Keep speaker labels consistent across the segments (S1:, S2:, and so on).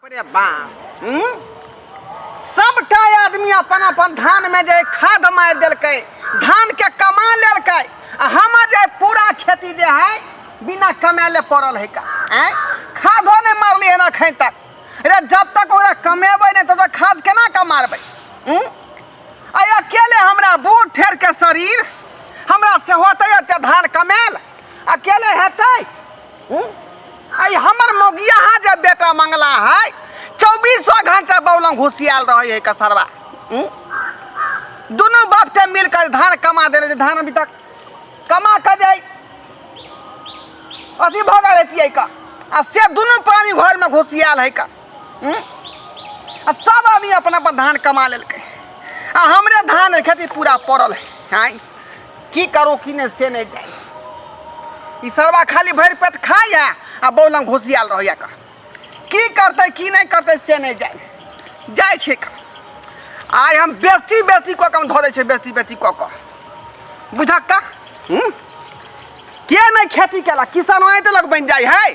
S1: रे बा हम्म? सबटा आदमी अपन अपन धान में जे खाद मार देलकै धान के कमा लेलकै आ हमर जे पूरा खेती जे है बिना कमाले पड़ल है का आँय? खादो नहीं मारली है अखन तक रे जब तक ओकरा कमेबै नहीं तब तक खाद केना का मारबै हम्म? आ अकेले हमरा बूढ़ ठेर के शरीर हमरा से होतै एते धान कमायल अकेले हेतै आई हमर मौगिया हा जे बेटा मंगला है चौबीसो घंटा बौलम घुसियाल रहे है कसरवा दोनों बाप के मिलकर धान कमा दे रहे धान अभी तक कमा कर जाए अथी भगा रहती है का आ से दोनों पानी घर में घुसियाल है का हुँ? आ सब आदमी अपना पर धान कमा लेलकै आ हमरे धान खेती पूरा पड़ल है आँय की करू की नहि से नहि जाय ई सरवा खाली भरि पेट खाइए आ बौ लग घुसियाल रहैए कह की करतै की नहि करतै से नहि जाय जाइ छै कह आइ हम बेसी बेसी कऽ कऽ हम धरै छै बेसी बेसी कऽ कऽ बुझक कह हूँ? के नहि खेती केलक किसान आँटि लग बनि जाइ है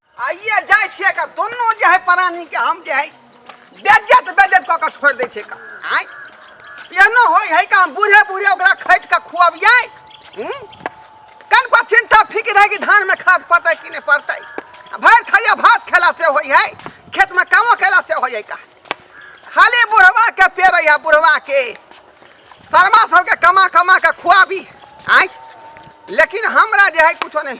S1: आइए जाइ छियै का दुनू जे है प्राणी के हम जे है बेज्जत बेज्जत कऽ के छोड़ दै छियै का आय एहनो होइ है का हम बूढ़े बूढ़े ओकरा खैट के खुआबियै हूँ कन पर चिंता फिक्र है कि धान में खाद पड़तै कि नहीं पड़तै आ भरि थरिया भात खेला से होइ है खेत में कामो खेला से होइ है का खाली बुढ़वा के पेड़ है बुढ़वा के शर्मा सबके कमा कमा के खुआबी आय लेकिन हमरा जे है कुछो नहीं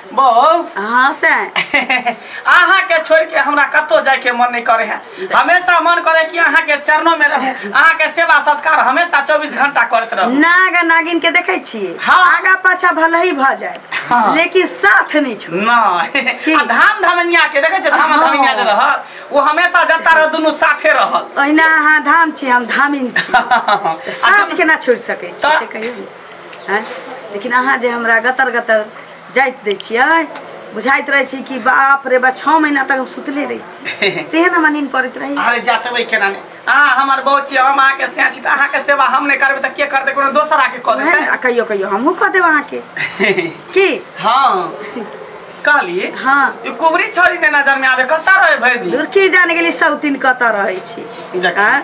S1: बहू हाँ से अहाँ के छोड़ के हमरा कतो जाए के मन नहीं करे है हमेशा मन करे कि अहाँ के चरणों में रहूं अहाँ के सेवा सत्कार हमेशा 24 घंटा करत रहूं नाग आ नागिन के देखे छिए हाँ। आगा पाछा भले ही भ जाए हाँ। लेकिन साथ नहीं छोड़ ना आ धाम धमनिया के देखे छै धाम हाँ। धमनिया जे रहल वो हमेशा जता रह दुनू साथे रहल ओहिना अहाँ धाम छी हम धामिन छी आ साथ केना छोड़ सकै छी तऽ- से कहियौ ने। हैं लेकिन अहाँ जे हमरा गतर गतर जाइत दै छियै बुझाइत रहै छी कि बाप रे बा छः महीना तक हम सुतले रही तेहन हमरा नींद पड़ैत रही अरे जातबै केना ने अहाँ हमर बहू छी हम अहाँके सैं छी तऽ अहाँके सेवा हम नहि करबै तऽ के करतै कोनो दोसर आके कऽ ओहे ने, देतै आ कहियो कहियो हमहूँ कऽ देब अहाँके की हाँ कहली हाँ ई कुबरी छोरी ने नजर में आवे कतऽ रहे भरि दिन लुरकी जान गेली सौतिन कतऽ रहै छी देखी। आँय?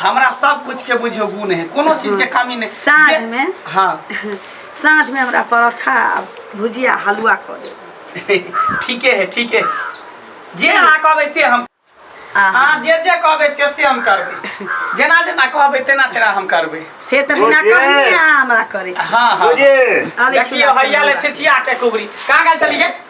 S1: हमरा सब कुछ के बुझियो गुण है कोनो चीज के कमी नहीं साँझ जे- में? हाँ साँझ में हमरा परोठा आ भुजिया हलुआ कऽ देब ठीके है ठीक है जे अहाँ कहबै से हम आहा, अहाँ जे जे कहबै से से हम करबै जेना जेना कहबै तेना तेना हम करबै से तऽ बिना भुजिया? कहने अहाँ हमरा करै छी हाँ हाँ बुझे अरे देखियो छुआ हैया ले छुआ। छिछिया के कुबरी कहाँ गेल चली गे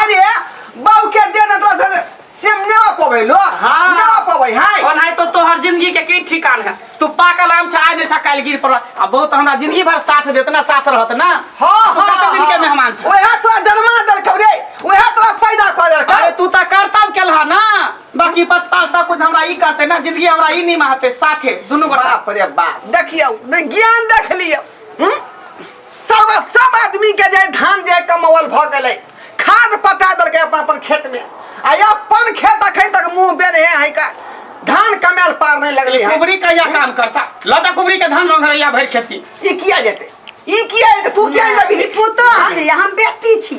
S1: अरे बाबू के दे ना तो से से ने आ पवे लो हाँ। ने आ पवे हाय और नहीं तो तोहर जिंदगी के की ठिकान है तू पाकल आम छा ने छा काल गिर पर आ बहुत हमरा जिंदगी भर साथ देत ना साथ रहत ना हां तू कते दिन के मेहमान छ ओहे तोरा जन्मा दल कबरे ओहे तोरा पैदा कर दल अरे तू त करतब केलहा ना बाकी पतपाल सब कुछ हमरा ई करते ना जिंदगी हमरा ई निमा हते साथे दुनु गोटा बाप रे बाप देखियो ने ज्ञान देख लियो हम सब सब आदमी के जे धान जे कमावल भ गेलै खाद पटा देलकै अपन अपन खेत में आ ये अपन खेत अखन तक मुंह बेन है है का धान कमाल पार नहीं लगली है कुबरी कहिया काम करता लता कुबरी के धान मंगरैया भरि खेती ई किया जेते ई किया जेते तू किया जेबी ई पुतोह छी हम बेटी छी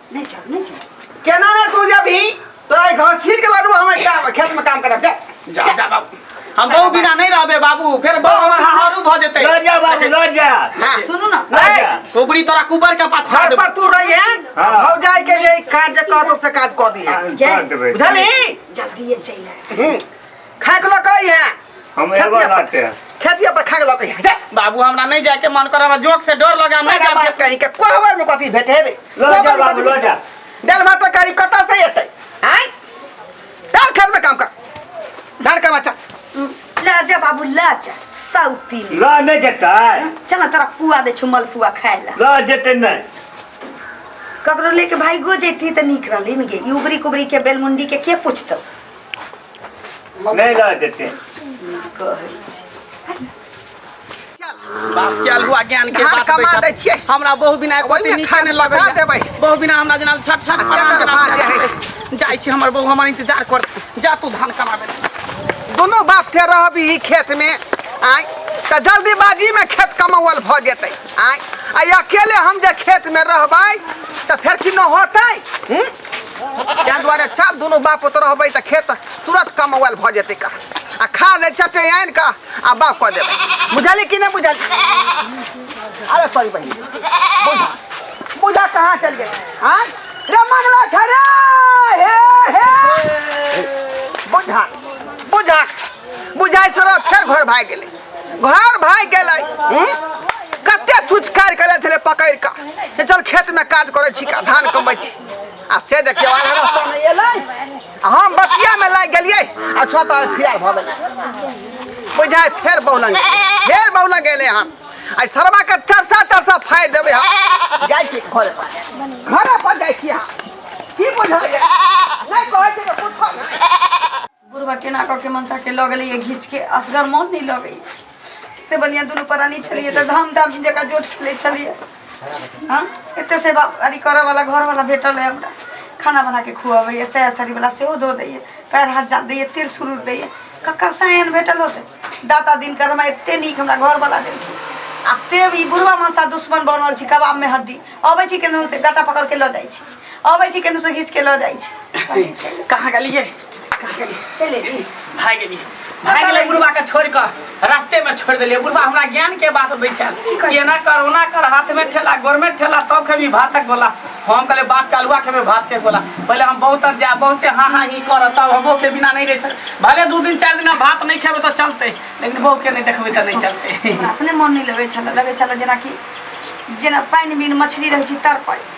S1: नहीं जाओ नहीं जाओ केना ना तू जब ही तोरा ई घर छीन के लड़ू हम एकटा खेत में काम करब जा जा जा बाबू हम बहू बिना नहीं रहबे बाबू फिर बहू हमर हारू भ जेतै लड़ जा बाबू लड़ जा हां सुनू ना लड़ जा टोकरी तोरा कुबर के पाछा घर देबो पर तू रही है हाँ। भौ जाए के लिए काज जे कहतो से काज कर दी है हाँ, कर देबै। बुझली जल्दी ये चला हम्म। खाए के लक आई है हम एबो खेतिया पर- लाटे खेतिया पर खाए के लक आई है जा बाबू हमरा नहीं जाके मन कर हमरा जोक से डर लगा मैं मेरा बात कहीं के कोहबर में कथी भेटे है रे लो जा कोहबर में बाबू कथी लो जा दाल भात तरकारी कतऽ से एतै आँय दाल खेतमे काम कर धान का बच्चा ला जा बाबू ला जा सौती ले लो नहीं जेता चल तोरा पुआ दे छु मलपुआ खाए ला लो जेते नहीं ककरो लेके भाई गो जैती तऽ नीक रहली ने गे ई उबरी कुबरी के बेलमुंडी के के पूछतौ नहीं गए देते बाप के अलहुआ ज्ञान के धान बात कमा बैठा। दै छियै। हमरा बहु बिना एको ओहिमे दिन नीके खान नहि लगा लगैया देबै। बहु बिना हमरा जेना छट छट केना परान जेना बात हमरा है? छट। जाइ छी हमर बहु हमर इंतजार कर जा तू धान कमाबे दुनू बाप के रहबी ई खेत में आय तऽ जल्दीबाजी में खेत कमाओल भऽ जेतै आय आ अकेले हम जे खेत में रहबै तऽ फेर कि न होतै हूँ? ताहि दुआरे चल दुनू बाप पुत रहबै तऽ खेत तुरत कमौल भऽ जेतै का आ खा दै चटे आनि कऽ आ बाप कऽ देबै बुझली कि नहि बुझली अरे सॉरी बहिन बुझा बुझा कहाँ चल गेल आँय रे मंगला छै रे हे हे बुझा बुझा बुझाइ सर फेर घर भाग गेले घर भाग गेले कते छुचकार कर छले पकड़ का से चल खेत में काज करे छी का धान कमबै छी आ से देखियो आधा रास्ता में एलै हम बतिया में लाग गेलिए आ छोटा फिरार भ गेलै बुझाइ फेर बौलंग फेर बौलंग गेले हम आई सरवा के चरसा चरसा फाड़ देबे हम जाय छी घर पर घर पर जाय छी हम की बुझाइए नहीं कहै छै कुछ नहीं बुढ़वा केना कऽ के मनसा के लऽ गेलैए घीच के असगर मोन नहि लगैए कते बढ़िआँ दुनू प्राणी छलियै तऽ धाम धाम जकाँ जोट खेलै छलियै हँ एते सेवा अरी करऽ वाला घर वाला भेटल है हमरा खाना बना के खुआबैए सैर सरी वाला सेहो धो दैए पैर हाथ जान दैए तेल सुरूर दैए ककर सायन भेटल होते दाता दिन कर हमरा एते नीक हमरा घर वाला देलखिन आ से ई बुढ़वा मनसा दुश्मन बनल छी कबाब में हड्डी अबै छी केनहू से गाटा पकड़ के लऽ जाइ छी अबै छी केनहू से घीच के लऽ जाइ छी कहाँ गेलियै चले जी भाग गेली भाग गेलै बुढ़बा के छोड़ के रास्ते में छोड़ देलिए बुढ़बा हमरा ज्ञान के बात दै छल कि एना कर ओना कर हाथ में ठेला गोर में ठेला तब खेबी भातक बोला हम कहले बात के अलुआ खेबे भात के बोला पहले हम बहुत तर जा बहुत से हाँ हाँ ही कर तब हमो के बिना नहीं रह सक भले दू दिन चार दिन हम भात नहीं खेबे तो चलते लेकिन बहू के नहीं देखबे तो नहीं चलते अपने मन नहीं लगे छल लगे छल जेना कि जेना पानि बिन मछली रहै छै तड़पल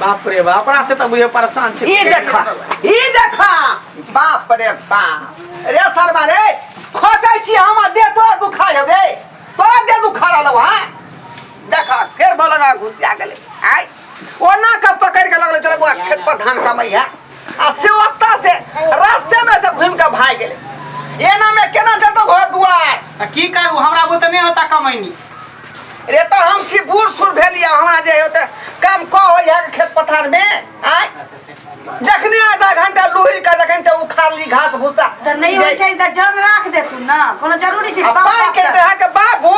S1: बाप रे बाप अपना से तो बुझे परेशान छे ई देखा ई देखा बाप रे बाप रे सरबा रे खोटे छी हम दे तोरा दुखा हेबे तोरा दे दुखा रहलो हां देखा फेर बोलगा घुसिया गेले आय ओना के पकड़ के लगले चल बुआ खेत पर धान कमाई है आ से ओत्ता से रास्ते में से घूम के भाग गेले एना में केना जतो घर दुआर आ की करू हमरा बुते नहि होता कमैनी रे तो हम छी बूढ़ सुर भेलिया हमरा जे होते काम क हो यहाँ के खेत पथार में आय जखने आधा घंटा लुहिल का जखन ते उखाड़ ली घास भूसा तऽ नहि होइ छै तऽ जन राख देथुन ने कोनो जरूरी छै आ बाप पाइ के बाप देहा के बाबू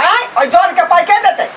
S1: आय और जौन के पाइ के देते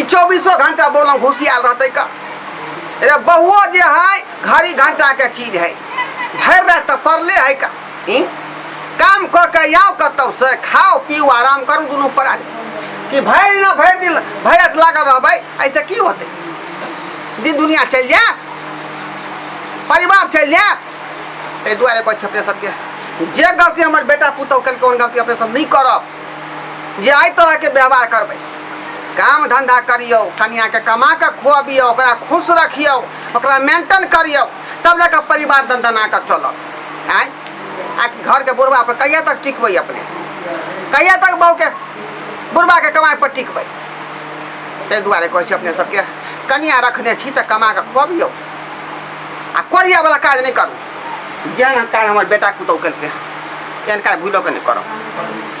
S1: ई चौबीसो घंटा बोलम घुसियाल रहतै का अरे बहुओ जे है घड़ी घंटा के चीज है भर रहे तो पड़ले है का ई? काम कऽ के आउ कतौ से खाओ पीऊ आराम करू दुनू पड़ा कि भरि दिना भरि दिन भरि रात लागल रहबै ऐसे की होतै दिन दुनिया चलि जायत परिवार चलि जायत ताहि दुआरे कहै छै अपने सबके जे गलती हमर बेटा पुतहु केलकै ओहन गलती अपने सब नहि करब जे एहि तरहके व्यवहार करबै काम धन्धा करियौ कनियाँके कमा कऽ खुअबियौ ओकरा खुश रखियौ ओकरा मेंटेन करियौ तब जाकऽ परिवार दनदना कऽ चलत आँय आ कि घरके बुढ़बा पर कहिया तक टिकबै अपने कहिया तक बहुके बुढ़बाके कमाइ पर टिकबै ताहि दुआरे कहै छी अपने सबके कनिया रखने छी तऽ कमा कऽ खुअबियौ आ कोरिया वाला काज नहि करू जेहन काज हमर बेटा पुतहु केलकै एहन काज भूलो के नहि करब